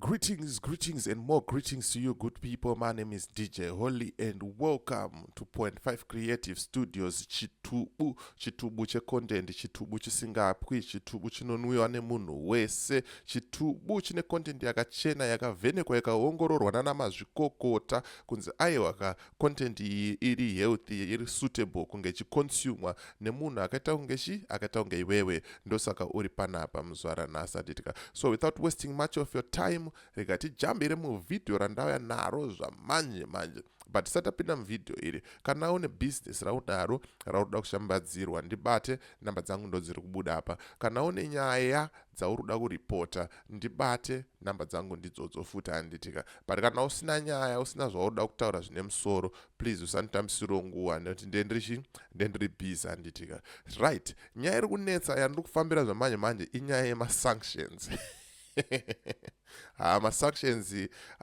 Greetings, greetings, and more greetings to you, good people. My name is DJ Holly, and welcome to Point Five Creative Studios. Chitubu, chitubu che content, chitubu chisingapwi, chitubu chinonwiwa nemunhu wese, chitubu chine content yakachena, yakavhenekwa, yakaongororwa nana mazvikokota kunzi aiwa ka content iyi iri healthy iri suitable kunge chiconsumwa nemunhu akaita kunge chi akaita kunge iwewe ndosaka uri panapa muzvara nhasi atitika so without wasting much of your time rega tijambire muvhidhiyo randauya naro zvamanje manje but tisati tapinda muvhidhiyo iri kana une business raudaro raunoda kushambadzirwa ndibate namba dzangu ndodziri kubuda apa kana une nyaya dzauruda kureporter ndibate number dzangu ndidzodzo futi handitika but kana usina nyaya usina zvauruda kutaura zvine musoro please usanditambisiro nguva nekuti ndendirichi ndendiri busy handitika right nyaya iri kunetsa yandiri kufambira zvamanje manje inyaya yemasanctions Ah, masuctions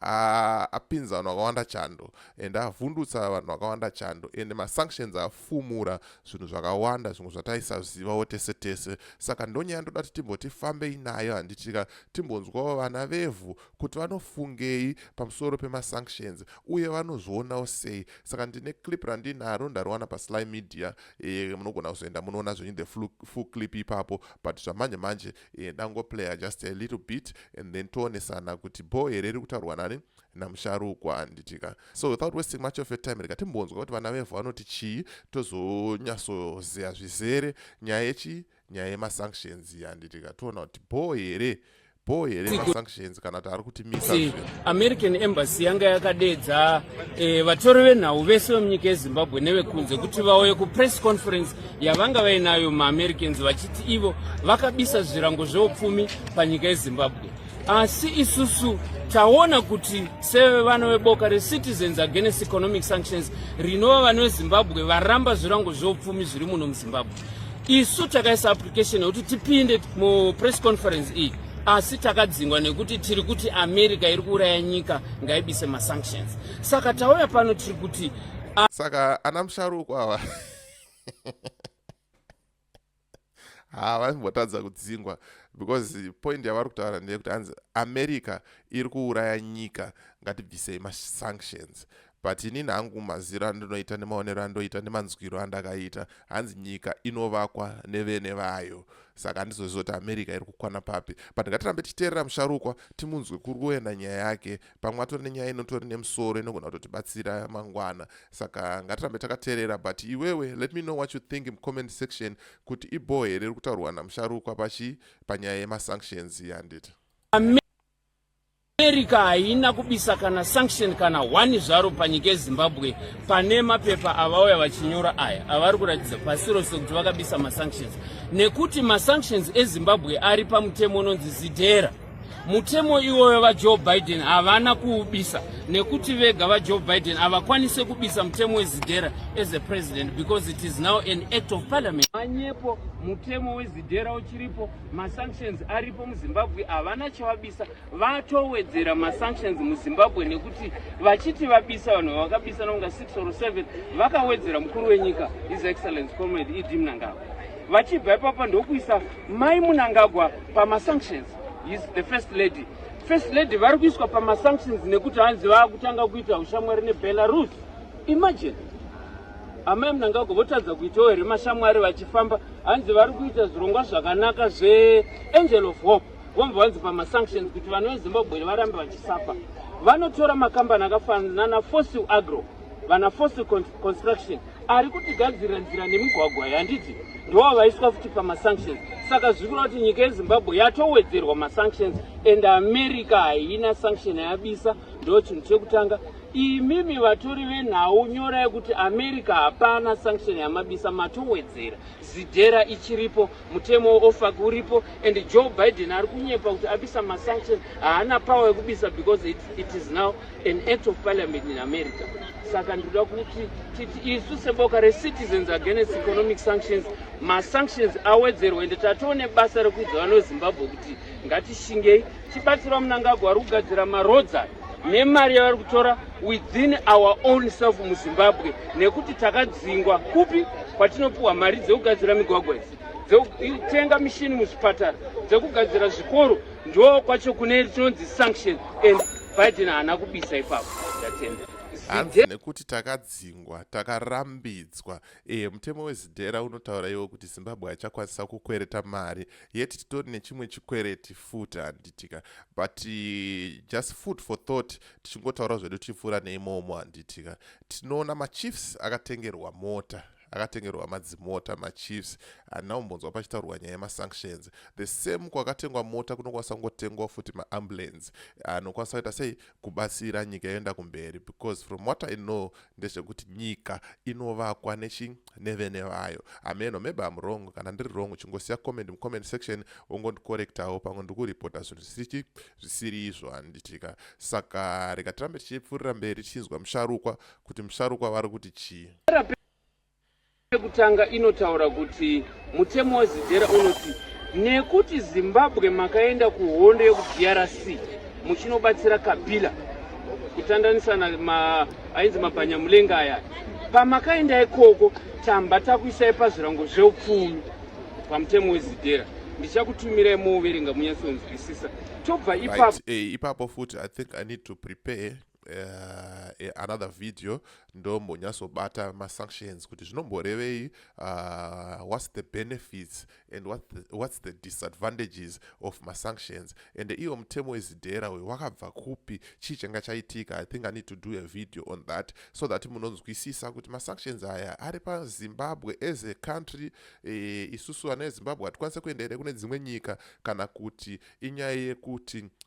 ah, apinza vanhu vakawanda chando and avhundutsa vanhu vakawanda chando and masunctions afumura zvinhu zvakawanda zvimwe zvataisazivawo tese tese saka ndonyaya ndoda ti timboti fambei nayo handitika timbonzwawo vana vevhu kuti vanofungei pamusoro pemasunctions uye vanozvionawo sei saka ndine clip randinaro ndariwana pasly media e, munogona kuzoenda munoona zvenyu the full clip ipapo but zvamanje manje e, ndangoplayer just a little bit and then toonesana kuti bho here iri kutaurwa nani namusharukwa handitika so without wasting much of your time rega timbonzwa kuti vana vevhu vanoti chii tozonyatsoziva zvizere nyaya yechii nyaya yemasanctions handitika toona kuti bho here bho here masanctions kana kuti ari american embassy yanga yakadeedza eh, vatori venhau vese vemunyika yezimbabwe nevekunze kuti vauye kupress conference yavanga vainayo maamericans vachiti ivo vakabisa zvirango zveupfumi panyika yezimbabwe asi isusu taona kuti sevevana veboka recitizens against economic sanctions rinova vana vezimbabwe varamba zvirango zveupfumi zviri muno muzimbabwe isu takaisa application yekuti tipinde mupress conference iyi asi takadzingwa nekuti tiri kuti america iri kuuraya nyika ngaibise masanctions saka tauya pano tiri kuti saka ana musharuko ava haa vaimbotadza kudzingwa because point yavari kutaura ndeyekuti hanzi america iri kuuraya nyika ngatibvisei masanctions But inini hangu maziro andinoita nemaonero andoita nemanzwiro andakaita hanzi nyika inovakwa nevene vayo saka handizoziva kuti america iri kukwana papi but ngatirambe tichiteerera musharukwa timunzwe kuri kuenda nyaya yake pamwe atori nenyaya inotori nemusoro inogona kutotibatsira mangwana saka ngatirambe takateerera but iwewe let me know what you think mucomment section kuti ibhoo here iri kutaurwa namusharukwa pachi panyaya yemasanctions yanditi America haina kubisa kana sanction kana one zvaro panyika yezimbabwe pane mapepa avauya vachinyora aya avari kuratidza pasi rose kuti vakabisa masanctions nekuti masanctions ezimbabwe ari pamutemo unonzi zidhera mutemo iwoyo vajoe biden havana kuubisa nekuti vega vajoe biden havakwanise kubisa mutemo wezidhera as a president because it is now an act of parliament manyepo mutemo wezidhera uchiripo masanctions aripo muzimbabwe havana chavabisa vatowedzera masanctions muzimbabwe nekuti vachiti vabisa vanhu vavakabisa nonga 6 or 7 vakawedzera mukuru wenyika his excellence comrade ed mnangagwa vachibva ipapo ndokuisa mai munangagwa pamasanctions his the first lady first lady vari kuiswa pamasanctions nekuti hanzi vaakutanga kuita ushamwari nebelarus imagine amai munangagwa votadza kuitawo here mashamwari vachifamba hanzi vari kuita zvirongwa zvakanaka zveangel of hope vomva vanzi pamasanctions kuti vana vezimbabwe varambe vachisapa vanotora makambani akafanana nafossil agro vana fossil construction ari kutigadzirira nzira nemigwagwa yanditi ndova vaiswa futi pamasanctions saka zvikureva kuti nyika yezimbabwe yatowedzerwa masanctions and america haina sanction yabisa ndo chinhu chekutanga imimi vatori venhau nyora yekuti america hapana sanction yamabisa matowedzera zidhera ichiripo Mutemo weOFAC uripo and Joe Biden ari kunyepa kuti abisa masanction haana power yekubisa because it, it is now an act of parliament in America. Saka ndinoda kuti titi isu seboka recitizens against economic sanctions masanctions awedzerwe ende tatoone basa rekuudza vanozimbabwe kuti ngatishingei Tibatsira Mnangagwa ari kugadzira maroads aya nemari yavari kutora within our own self muzimbabwe nekuti takadzingwa kupi kwatinopiwa mari dzekugadzira migwagwa idzi dzekutenga mishini muzvipatara dzekugadzira zvikoro ndo kwacho kune tinonzi sanction and biden haana kubisa ipapo ndatenda hanzi nekuti takadzingwa takarambidzwa e, mutemo wezidhera unotaura iwo kuti zimbabwe achakwanisa kukwereta mari yet titori nechimwe chikwereti futi handitika but eh, just food for thought tichingotaura zvedu tichipfuura neimomo handitika tinoona machiefs akatengerwa mota akatengerwa madzimota machiefs handina kumbonzwa pachitaurwa nyaya yemasanctions the same kwakatengwa mota kunokwanisa kungotengwa futi maambulance anokwanisa kuita sei kubatsira nyika yoenda kumberi because from what i know ndezvekuti nyika inovakwa nechi nevene vayo ameno maybe am wrong kana ndiri wrong uchingosiya comment mucomment section wongondicorectawo pamwe ndiri kuripota zvinhu zvisirichi zvisiri izvo handitika saka rega tirambe tichipfuurira mberi tichinzwa musharukwa kuti musharukwa vari kuti chii Yekutanga inotaura kuti mutemo weZIDERA unoti nekuti Zimbabwe makaenda kuhondo yekuDRC muchinobatsira Kabila kutandanisa na ma, ainzi mabhanyamulenga aya pamakaenda ikoko tamba takuisai pazvirango zveupfumi pamutemo wezidhera ndichakutumirai moverenga munyatsonzwisisa tobva ipapo right. hey, eh, ipapo futi i think i need to prepare uh, another video ndombonyatsobata masanctions kuti zvinomborevei uh, whats the benefits and what the, whats the disadvantages of masanctions and iwo mutemo wezidhera uyo wakabva kupi chii changa chaitika i think i need to do a video on that so that munonzwisisa kuti masanctions aya ari pazimbabwe as a country e, isusu vana vezimbabwe hatikwanise kuenderere kune dzimwe nyika kana kuti inyaya yekuti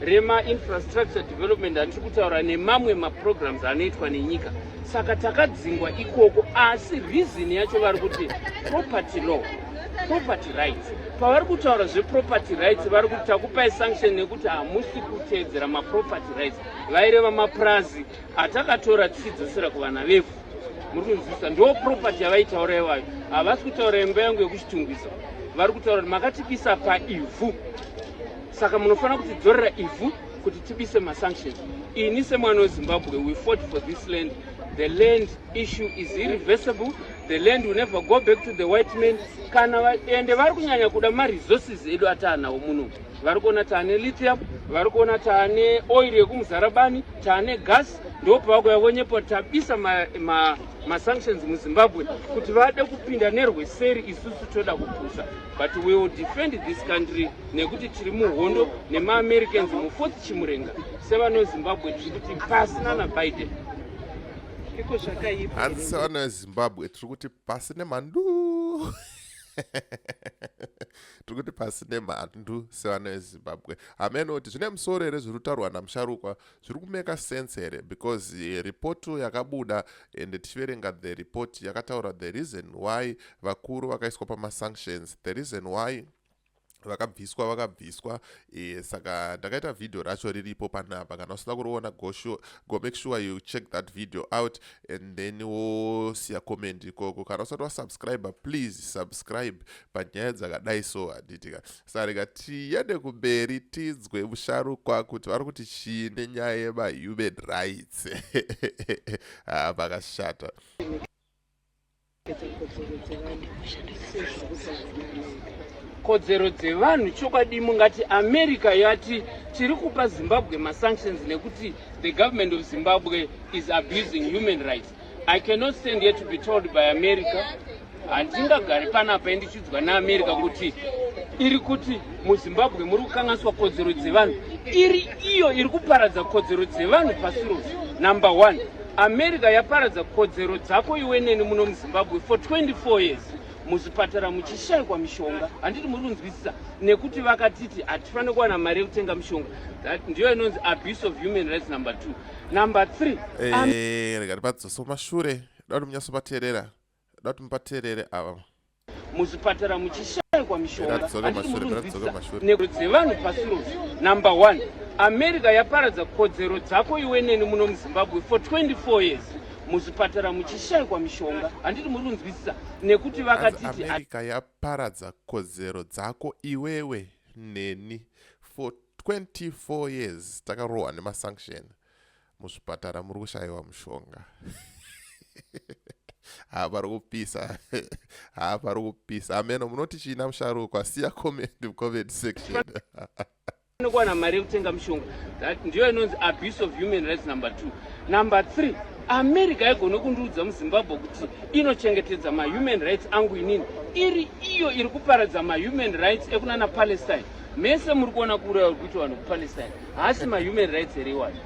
remainfrastructure development handiri kutaura nemamwe maprograms anoitwa nenyika saka takadzingwa ikoko asi reason yacho vari kuti property law property rights pavari kutaura zveproperty rights vari kuti takupai sanction nekuti hamusi kuteedzera maproperty rights vaireva mapurazi atakatora tichidzosera kuvana vevhu muri kunzwisisa ndo property yavaitaura iwayo havasi kutaura imba yangu yekuchitungwiso vari kutaura kuti makatipisa paivhu Saka munofanira kutidzorera ivhu kuti tibise masanctions. Ini semwana weZimbabwe, we fought for this land. The land issue is irreversible. The land will never go back to the white man. Kana vaende vari kunyanya kuda maresources edu ataanawo muno. Vari kuona taane lithium, vari kuona taane oil yekumuzarabani, taane gas, ndipo pavakuya vonyepa tabisa ma, ma, masanctions muZimbabwe kuti vade kupinda nerweseri isusu toda kupusa. but we will defend this country nekuti tiri muhondo nemaamericans mufourth chimurenga sevanozimbabwe tiri kuti pasi nana biden iko zvakaipa hanzi sevana vezimbabwe tiri kuti pasi nemhandu tiri kuti pasi nemhandu sevana vezimbabwe hameno kuti zvine musoro here zviri kutaurwa namusharukwa zviri kumeka sense here because eh, report yakabuda and tichiverenga the report yakataura the reason why vakuru vakaiswa pamasanctions the reason why vakabviswa vakabviswa e, saka ndakaita vhidhiyo racho riripo panapa kana usina kuriona go, sure, go make sure you check that video out and then wosiya comment ikoko kana usati wasubscribe please subscribe panyaya dzakadai so handitika Sarega tiyende kumberi tinzwe musharukwa kuti vari kuti chii nenyaya yemahuman rights. Haa ah, pakashata. kodzero dzevanhu chokwadi mungati america yati tiri kupa zimbabwe masanctions nekuti the government of zimbabwe is abusing human rights I cannot stand here to be told by America handingagari panapa indichiudzwa neamerica kuti iri kuti muzimbabwe muri kukanganiswa kodzero dzevanhu iri iyo iri kuparadza kodzero dzevanhu pasi rose number one america yaparadza kodzero dzako iwe neni muno muzimbabwe for 24 years muzvipatara muchishaikwa mishonga handiti muri kunzwisisa nekuti vakatiti hatifanire kuwana mari yekutenga mishonga ndiyo inonzi abuse of human rights number two number three eh, rega tipadzose kumashure da kuti munyatsopateerera da kuti mupateerere ava muzvipatara muchishaikwa mishonganekodzero dzevanhu pasi rose number one america yaparadza kodzero dzako iwe neni muno muzimbabwe for 24 years muzvipatara muchishaikwa mishonga handiti muri kunzwisisa nekuti vakatiti america yaparadza kodzero dzako iwewe neni for 24 years takarohwa nemasanction muzvipatara muri kushayiwa mushonga haa pari kupisa haa pari kupisa ameno munoti chiina musharukwa siya comment comment section anokuwana mari yekutenga mushonga that ndiyo inonzi abuse of human rights number two number three america haigone kundiudza muzimbabwe kuti inochengetedza mahuman rights angu inini iri iyo iri kuparadza mahuman rights ekunana palestine Mese muri kuona kuuraya kuri kuitwa vanhu kuPalestine haasi mahuman rights here iwayo?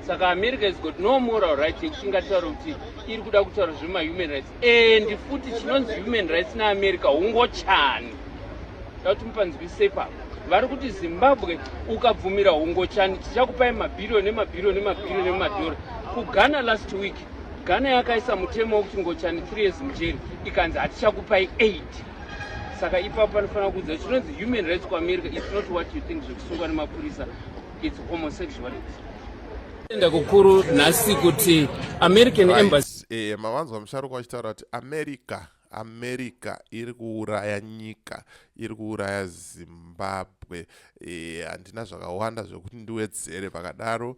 Saka America has got no moral right yekuti ingataura kuti iri kuda kutaura zvemahuman rights and futi chinonzi human rights neAmerica hungochani da kuti mupanzwise ipapo vari kuti zimbabwe ukabvumira hungochani tichakupai mabhiriyo nemabhiriyo nemabhiriyo nemadhora kughana last week ghana yakaisa mutemo wekuti ngochani three years mujeri ikanzi hatichakupai eight saka ipapo panofanira kuudza chinonzi human rights kuamerica its not what you think zvekusungwa nemapurisa its homosexuality tenda kukuru nhasi kuti american embassy eh, mavanzwa musharuka vachitaura kuti america america iri kuuraya nyika iri kuuraya zimbabwe eh, handina zvakawanda zvekuti ndiwedzere pakadaro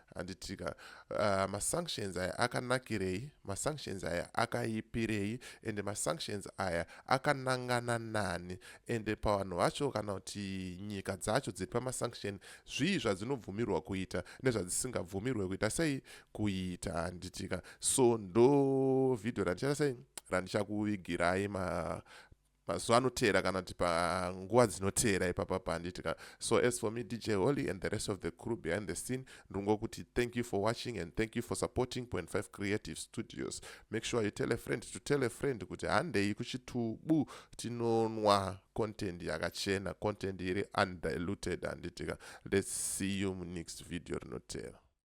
handitika uh, masanctions aya akanakirei masanctions aya akaipirei ende masanctions aya akanangana nani ende pavanhu vacho kana kuti nyika dzacho dziri pamasanction zvii zvadzinobvumirwa kuita nezvadzisingabvumirwe kuita sei kuita handitika so ndo vhidhiyo randichaita sei randichakuvigirai ma mazuva anoteera kana kuti panguva dzinoteera ipapa panditi ka so as for me dj holy and the rest of the crew behind the scene ndingokuti thank you for watching and thank you for supporting point five creative studios make sure you tell a friend to tell a friend kuti handei kuchitubu tinonwa content yakachena content iri undiluted handiti ka let's see you munext video rinoteera